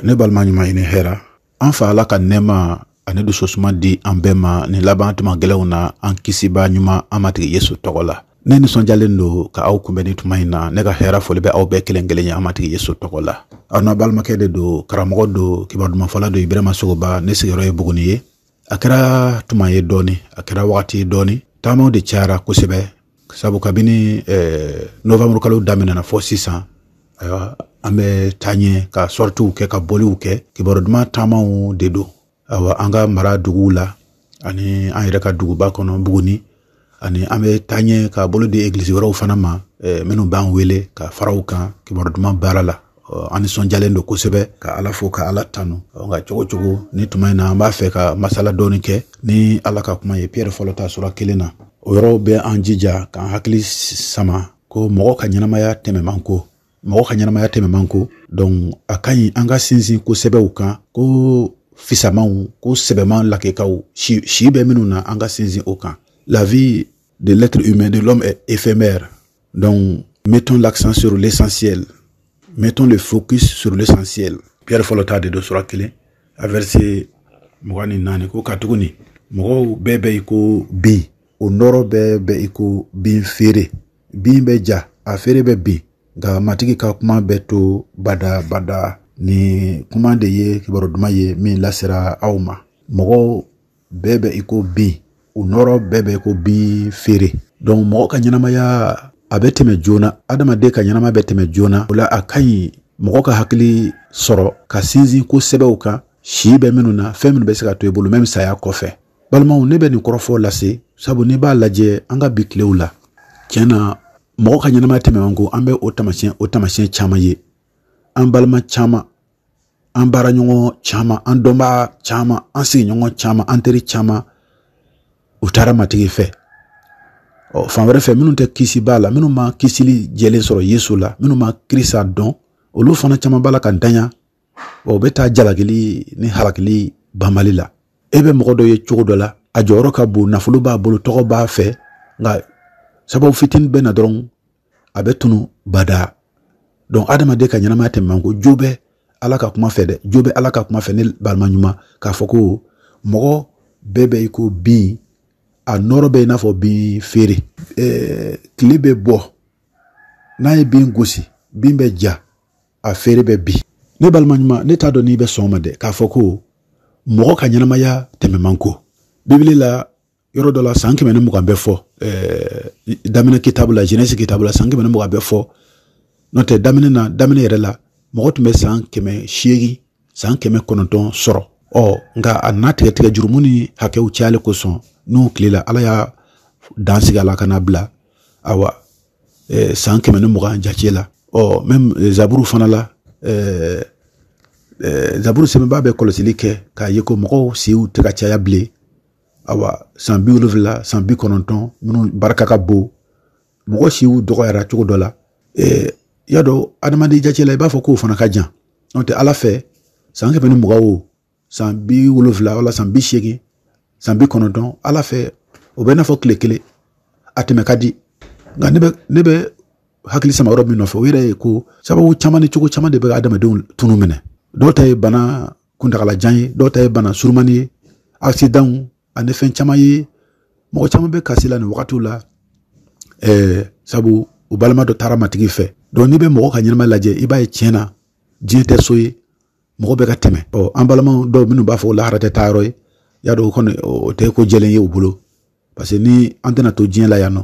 ne balima ɲuman i ni hɛra an fa ala ka nɛɛma ani dusosuma di an bɛɛ ma nin laban tuma gɛlɛnw na an kisibaa ɲuman an matigi yesu tɔgɔ la ne nisɔnjalen don ka aw kunbɛn ni tuma in na ne ka hɛra foli bɛ aw bɛɛ kelen kelen ye an matigi yesu tɔgɔ la aw na balimakɛ de don karamɔgɔ don kibaru dumanfɔla don ibirahima sogoba ne sigiyɔrɔ ye buguni ye a kɛra tuma ye dɔɔni a kɛra wagati ye dɔɔni taamaw de cayara kosɛbɛ sabu kabini eh, novembre kalo daminɛna fɔ sisan ayiwa an bɛ taa ɲɛ ka sɔritiw kɛ ka bɔliw kɛ kibaru duman taamaw de don awa an ka mara duguw la ani an yɛrɛ ka duguba kɔnɔ buguni ani an bɛ taa ɲɛ ka bolo di egilisi wɛrɛw fana ma eh, minnu b'an wele ka fara u kan kibaru duman baara la an nisɔnjalen don kosɛbɛ ka ala fo ka ala tanu nka cogo cogo ni tuma in na an b'a fɛ ka masala dɔɔni kɛ ni ala ka kuma ye pierre fɔlɔ ta sura kelen na o yɔrɔ bɛ an jija k'an hakili sama ko mɔgɔ ka ɲɛnamaya tɛmɛ man ko mɔgɔ ka ɲɛnamaya tɛmɛ man ko donc a ka ɲi an ka sinsin ko sɛbɛw kan ko fisamanw ko sɛbɛman lakikaw si, si bɛ minnu na an ka sinsin o kan la vie de l'être humain de l'homme est éphémère donc mettons l'accent sur l'essentiel mettons le focus sur l'essentiel pierre fɔlɔ ta de don sura kelen a verset mugan ni naani ko katuguni mɔgɔw bɛɛ bɛ i ko bin o nɔɔrɔ bɛɛ bɛ i ko bin feere bin bɛ ja a feere bɛ bin nka matigi ka kuma bɛ to bada bada ni kuma de ye kibaru duman ye min lasera aw ma mɔgɔw bɛɛ bɛ i ko bin u nɔɔrɔ bɛɛ bɛ i ko bin feere donc mɔgɔ ka ɲɛnamaya a bɛ tɛmɛ joona adamaden ka ɲɛnamaya bɛ tɛmɛ joona o la a ka ɲi mɔgɔ ka hakili sɔrɔ ka sinsin ko sɛbɛw kan si bɛ minnu na fɛn minnu bɛ se ka to i bolo même saya kɔfɛ balimaw ne bɛ nin kɔrɔfɔ lase sabu n'i b'a lajɛ an ka bi tilew la tiɲɛ na mɔgɔ ka ɲɛnamaya tɛmɛ man ko an bɛ o tamasiyɛn o tamasiyɛn caman ye an balima caman an baaraɲɔgɔn caman an dɔnbaa caman an sigiɲɔgɔn caman an teri caman u taara matigi fɛ ɔ fan wɛrɛ fɛ minnu tɛ kisibaa la minnu ma kisili jɛlen sɔrɔ yesu la minnu ma kirisa dɔn olu fana caman b'a la ka danya o bɛ taa jalakili ni halakili banbali la e bɛ mɔgɔ dɔ ye cogo dɔ la a jɔyɔrɔ ka bon nafolo b'a bolo tɔgɔ b'a fɛ nka sababu fitinin bɛ na dɔrɔn a bɛ tunu bada donc adamaden ka ɲɛnamaya tɛmɛ man ko jo bɛ ala ka kuma fɛ dɛ jo bɛ ala ka kuma fɛ ne balima ɲuman k'a fɔ ko mɔgɔ bɛɛ bɛ i ko bin a nɔɔrɔ bɛ i n'a fɔ bin feere ɛɛ tile bɛ bɔ n'a ye bin gosi bin bɛ ja a feere bɛ bi ne balima ɲuman ne t'a dɔn n'i bɛ sɔn ma dɛ k'a fɔ ko mɔgɔ ka ɲɛnamaya tɛmɛ man go bibili la yɔrɔ dɔ la san kɛmɛ ni mugan bɛ fɔ daminɛ kitabu la jenɛsi kitabu la san kɛmɛ ni mugan bɛ fɔ n'o tɛ daminɛ na daminɛ yɛrɛ la mɔgɔ tun bɛ san kɛmɛ seegin san kɛmɛ kɔnɔntɔn sɔrɔ ɔ nka a nana tigɛtigɛ jurumu ni hakɛw cayali kosɔn n'u tilela ala ye dan sigi a la ka n'a bila awa eh, san kɛmɛ ni mugan jace la ɔ oh, mɛm eh, zaburu fana la eh, eh, zaburu sɛbɛnbaa bɛ kɔlɔsili kɛ k'a ye ko mɔgɔw siw tɛ ka caya bilen awa san bi wolonfila san bi kɔnɔntɔn minnu barika ka bon mɔgɔ siw dɔgɔyara cogo dɔ la eh, y'a dɔn adamaden jace la i b'a fɔ k'o fana ka jan n'o tɛ ala fɛ san kɛmɛ ni mugan o san bi wolonfila wala san bi seegin san bi kɔnɔntɔn ala fɛ o bɛ i n'a fɔ tile kelen a tɛmɛ ka di nka ne bɛ ne bɛ hakili sama yɔrɔ min nɔfɛ o yɛrɛ ye ko sababu caman ni cogo caman de bɛ adamadenw tunu minɛ dɔw ta ye bana kuntagalajan ye dɔw ta ye bana surumani ye asidanw ani fɛn caman ye mɔgɔ caman bɛ kasi la nin wagatiw la ɛɛ sabu u balima dɔ taara matigi fɛ donc n'i bɛ mɔgɔ ka ɲɛnamaya lajɛ i b'a ye tiɲɛ na diɲɛ tɛ so ye mɔgɔ bɛ ka tɛmɛ ɔ an balima dɔw minnu b'a fɔ lahara tɛ taa yɔrɔ ye y'a dɔn o kɔni o tɛ ko jɛlen ye u bolo parce que ni an tɛna to diɲɛ la yan nɔ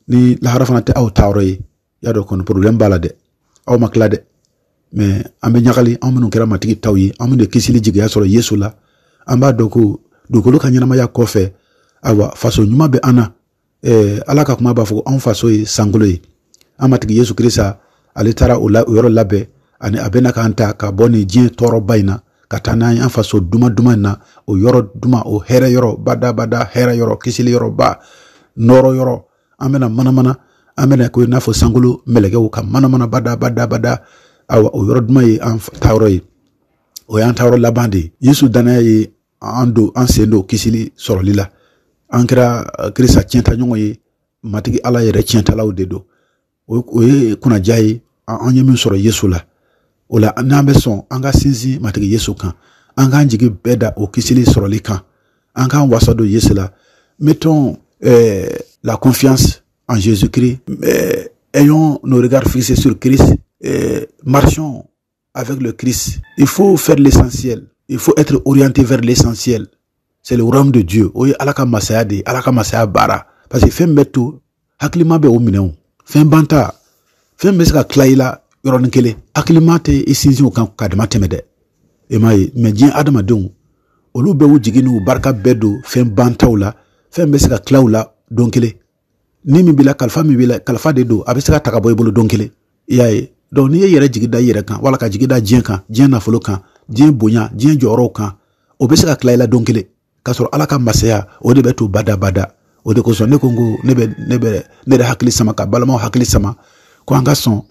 ni lahara fana tɛ aw taa yɔrɔ ye y'a dɔn kɔni porobilɛmu b'a la dɛ aw ma tila dɛ mɛ an bɛ ɲagali an minnu kɛra matigi taw ye an minnu ye kisili jigiya sɔrɔ yesu la an b'a dɔn ko dugukolo ka ɲɛnamaya kɔfɛ ayiwa faso ɲuman bɛ an na eh, ala ka kuma b'a fɔ anw faso ye sankolo ye an matigi yesu krista ale taara o la o yɔrɔ labɛn ani a bɛ na k'an ta ka bɔ nin diɲɛ tɔɔrɔba in na ka taa n'an ye an faso duman duman in na o yɔrɔ duman o hɛrɛ yɔrɔ badabada hɛrɛ yɔrɔ kisili yɔrɔba nɔɔrɔ yɔrɔ an bɛna manamana an bɛna kɛ i n'a fɔ sankolo mɛlɛkɛw ka manamana badabadabada awa o yɔrɔ duman ye an taayɔrɔ ye o y'an taayɔrɔ laban de ye yesu dannaya ye an don an sen don kisili sɔrɔli la an kɛra eh, krista tiɲɛta ɲɔgɔn ye matigi ala yɛrɛ tiɲɛtalaw de don o ye kunnaja ye an ye min sɔrɔ yesu la o la n'an bɛ sɔn an ka sinsin matigi yesu kan an k'an jigi bɛɛ da o kisili sɔrɔli kan an k'an wasa don yesu la mettons euh, la confiance en jésus christ euh, ayons nos regards fixés sur christ euh, marchons avec le Christ. Il faut faire l'essentiel. Il faut être orienté vers l'essentiel. C'est le royaume de Dieu. Oui, ala ka masaya de, ala ka masaya baara. Parce que fɛn min bɛ to, hakilima bɛ o minɛ. Fɛn banta, fɛn bɛ se ka tila i la yɔrɔnin kelen. Hakilima tɛ i sinsin o kan ka dama tɛmɛ dɛ. E m'a ye, mɛ diɲɛ adamadenw, olu bɛ u jigi n'u barika bɛɛ don fɛn bantaw la, fɛn bɛ se ka tila u la don kelen. ni min b'i la kalifa min b'i la kalifa de don a bɛ se ka ta ka bɔ i bolo don kelen i y'a ye donc n'i y'i yɛrɛ jigi da i yɛrɛ kan wala ka jigi da diɲɛ kan diɲɛ nafolo kan diɲɛ bonya diɲɛ jɔyɔrɔw kan o bɛ se ka tila i la don kelen k'a sɔrɔ ala ka masaya o de bɛ to bada bada o de kosɔn ne ko n ko ne bɛ ne bɛ ne yɛrɛ hakili sama ka balimaw hakili sama ko an ka sɔn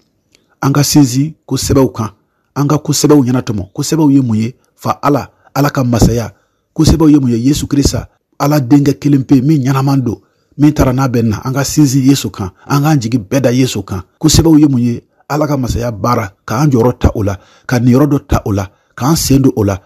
an ka sinsin ko sɛbɛw kan an ka ko sɛbɛw ɲɛnatɔmɔ ko sɛbɛw ye mun ye fa ala ala ka masaya ko sɛbɛw ye mun ye yesu krista ala denkɛ kelen pe min ɲɛnaman don min taara n'a bɛ na an ka sinsin yesu kan an k'an jigi bɛɛ da yesu kan ko sɛbɛw ye mun ye ala ka masaya baara k'an jɔyɔrɔ ta o la ka niyɔrɔ dɔ ta o la k'an sen don o la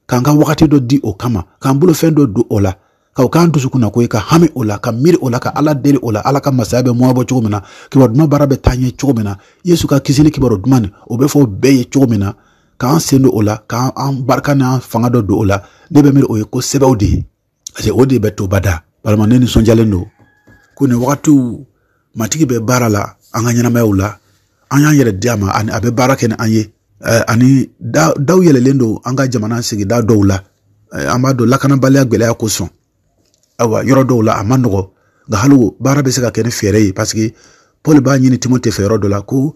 k'an ka wagati dɔ di o kama k'an bolofɛn dɔ don o la ka o k'an dusukunnako ye ka hami o la ka miiri o la ka ala deli o la ala ka masaya bɛ mɔgɔ bɔ cogo min na kibaru duman baara bɛ taa ɲɛ cogo min na yesu ka kisili kibaru duman nin o bɛ fɔ bɛɛ ye cogo min na k'an sen don o la k'an barika n'an fanga dɔ don o la ne bɛ miiri o ye ko sɛbɛw de ye parce que o de bɛ to bada balimaw ne nisɔndiyalen don ko nin wagatiw matigi bɛ baara la an ka ɲɛnamayaw la an y'an yɛrɛ di a ma ani a bɛ baara kɛ ni an ye eh, ani daw yɛlɛlen don an ka jamana sigida dɔw la eh, an b'a dɔn lakanabaliya gɛlɛya kosɔn ayiwa yɔrɔ dɔw la a ma nɔgɔ nka hali baara bɛ se ka kɛ ni fɛɛrɛ ye parce que paul b'a ɲini timote fɛ yɔrɔ dɔ la ko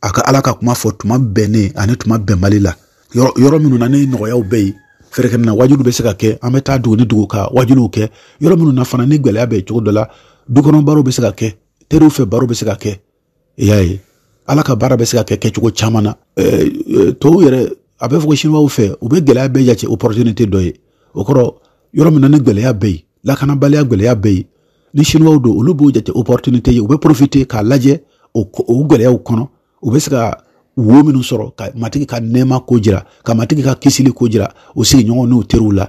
a ka ala ka kuma fɔ tuma bɛnnen ani tuma bɛnbali la yɔrɔ minnu na ni nɔgɔyaw bɛ yen fɛrɛkɛnɛ wajuli bɛ se ka kɛ an bɛ taa dugu ni dugu ka wajuliw kɛ yɔrɔ minnu na fana ni gɛlɛya bɛ cogo dɔ la dukɔnɔ barow bɛ se ka kɛ teriw fɛ barow bɛ se ka kɛ i y'a ye ala ka baara bɛ se ka kɛ kɛcogo caman na tɔw yɛrɛ a bɛ fɔ ko siniwaw fɛ u bɛ gɛlɛya bɛɛ jate opportunité dɔ ye o kɔrɔ yɔrɔ min na ni gɛlɛya bɛ yen lakanabaliya gɛlɛya bɛ yen ni siniwaw don olu b'o jate opportunité ye u bɛ profiter k'a lajɛ o gɛlɛyaw kɔnɔ u bɛ se ka wo minnu sɔrɔ ka matigi ka nɛɛma ko jira ka matigi ka kisili ko jira u sigiɲɔgɔn n'u teriw la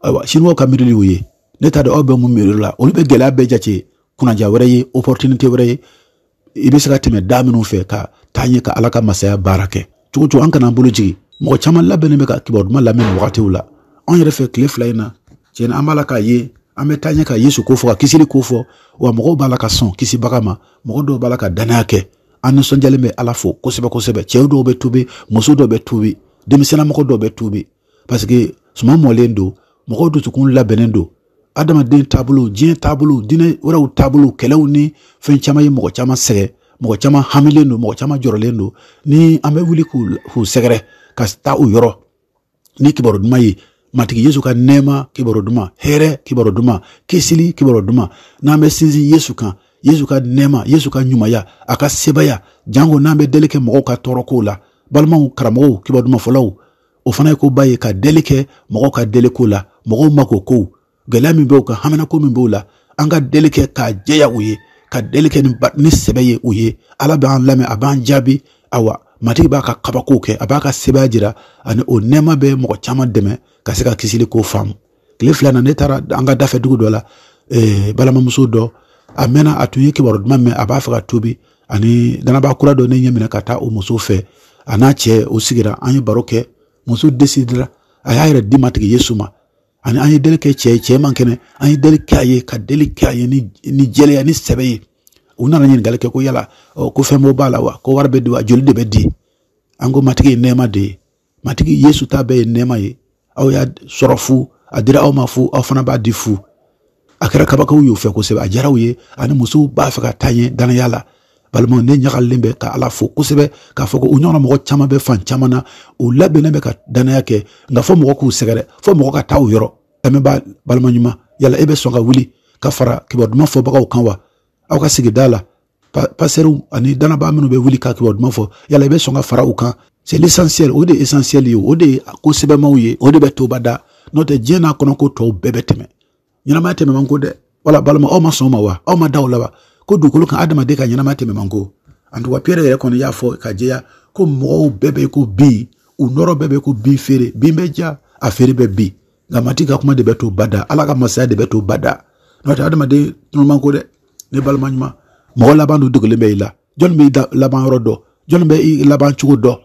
ayiwa siniwaw ka miirili y'o ye ne t'a dɔn aw bɛ mun miiri la olu bɛ gɛlɛya bɛɛ jate kunnaja wɛrɛ ye opportunité wɛrɛ ye i bɛ se ka tɛmɛ da minnu fɛ ka taa ɲɛ ka ala ka masaya baara kɛ cogo o cogo an kan'an bolo jigin mɔgɔ caman labɛnnen bɛ ka kibaru duman lamɛn wagatiw la anw yɛrɛ fɛ tile fila in na tiɲɛ na an b'a la k'a ye an bɛ taa ɲɛ ka yesu ko fɔ ka kisili ko fɔ wa mɔgɔw b'a la ka sɔn kisibaga ma mɔgɔ dɔw b'a la ka dannaya kɛ an nisɔndiyalen bɛ ala fo kosɛbɛ kosɛbɛ cɛw dɔw bɛ tubi muso dɔw bɛ tubi denmisɛnna mɔgɔ dɔw bɛ tubi parce que suman mɔlen don mɔgɔw dusukun labɛnnen don adamaden taabolo diɲɛ taabolo diinɛ wɛrɛw taabolo kɛlɛw ni fɛn caman ye mɔgɔ caman sɛgɛn mɔgɔ caman hamilen don mɔgɔ caman jɔrɔlen don ni an bɛ wuli k'u sɛgɛrɛ ka taa u yɔrɔ ni kibaru duman ye matigi yesu ka nɛɛma kibaru duman hɛrɛ kibaru duman kisili kibaru duman n'an bɛ sinsin yesu kan yesu ka nɛɛma yesu ka ɲumanya a ka sebaya janko n'an bɛ deli kɛ mɔgɔw ka tɔɔrɔ kow la balimaw karamɔgɔw kibaru duman fɔlaw o fana ye koba ye ka deli kɛ mɔgɔw ka deli ko la mɔgɔw mako kow gɛlɛya min bɛ u kan haminako min b'u la an ka deli kɛ k'a jɛya u ye ka deli kɛ ni sɛbɛ ye u ye ala b'an lamɛn a b'an jaabi awa matigi b'a ka kabakow kɛ a b'a ka sebaaya jira ani o nɛɛma bɛ mɔgɔ caman dɛmɛ ka se ka kisili ko faamu tile fila na ne taara an ka dafɛ dugu dɔ la eh, balimamuso dɔ a mɛnna a tun ye kibaru duman mɛn a b'a fɛ ka tuubi ani danabaa kura dɔ ne ɲɛ minɛ ka taa o muso fɛ a n'a cɛ u sigira an ye baro kɛ muso desidira a y'a yɛrɛ di matigi yesu ma ani an ye deli kɛ cɛ ye cɛ man kɛnɛ an ye deli kɛ a ye ka deli kɛ a ye ni jɛlenya ni sɛbɛ ye u nana ɲininkali kɛ ko yala ko fɛn bɛ b'a la wa ko wari bɛ di wa joli de bɛ di an ko matigi ye nɛɛma de ye matigi yesu ta bɛɛ ye nɛɛma ye aw y'a sɔrɔ fu a dira aw ma fu aw fana b'a di fu a kɛra kabako y'u fɛ kosɛbɛ a diyara u ye ani musow b'a fɛ ka taa ɲɛ dannaya la balimaw ne ɲagalilen bɛ ka ala fo kosɛbɛ k'a fɔ ko u ɲɔgɔnna mɔgɔ caman bɛ fan caman na u labɛnnen bɛ ka dannaya kɛ nka fo mɔgɔ k'u sɛgɛrɛ fo mɔgɔ ka taa u yɔrɔ ɛ ne balima ɲuman yala e bɛ sɔn ka wuli ka fara kibaru duman fɔbagaw kan wa aw ka sigida la pastɛriw ani danabaa minnu bɛ wuli ka kibaru duman fɔ yala i bɛ sɔn ka fara u kan c'est l'essentiel o de ye essentiel ye o de ye ko sɛbɛma ye o de bɛ to bada n'o tɛ diɲɛ n'a kɔnɔ ko tɔw bɛɛ bɛ tɛmɛ ɲɛnamaya tɛmɛ man go dɛ wala balima aw ma sɔn o ma wa aw ma da o la wa ko dugukolo kan adamaden ka ɲɛnamaya tɛmɛ man go en tout cas pierre yɛrɛ kɔni y'a fɔ k'a jɛya ko mɔgɔw bɛɛ bɛ ko bin u nɔrɔ bɛɛ bɛ ko bin feere bin bɛ ja a feere bɛ bin nka matigi ka kuma de bɛ to bada ala ka masaya de bɛ to bada n'o tɛ adamaden tunun man go dɛ ne balima ɲuman mɔgɔ laban dun dogolen bɛ i la jɔnni bɛ i laban yɔrɔ dɔn jɔnni bɛ i laban cogo dɔn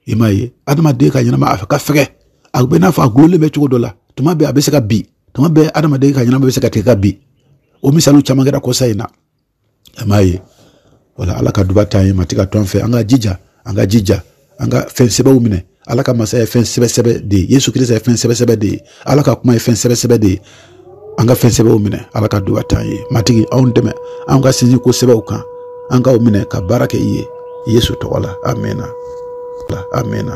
i m'a ye adamaden ka ɲɛnamaya ka fɛgɛ a bɛ n'a fɔ a dulonlen bɛ cogo dɔ la tuma bɛɛ a bɛ se ka bin tuma bɛɛ adamaden ka ɲɛnamaya bɛ se ka tigɛ ka bin o misaliw caman kɛra kɔsa in na i m'a ye wala ala ka duba t'an ye matigi ka t'an fɛ an ka jija an ka jija an ka fɛn sɛbɛw minɛ ala ka masaya ye fɛn sɛbɛsɛbɛ de ye yesu krista ye fɛn sɛbɛsɛbɛ de ye ala ka kuma ye fɛn sɛbɛsɛbɛ de ye an ka fɛn sɛbɛw minɛ ala ka duba t'an ye matigi anw dɛmɛ anw ka sinsin ko sɛbɛw kan an k'u minɛ ka baara kɛ i ye yesu tɔgɔ la amina amina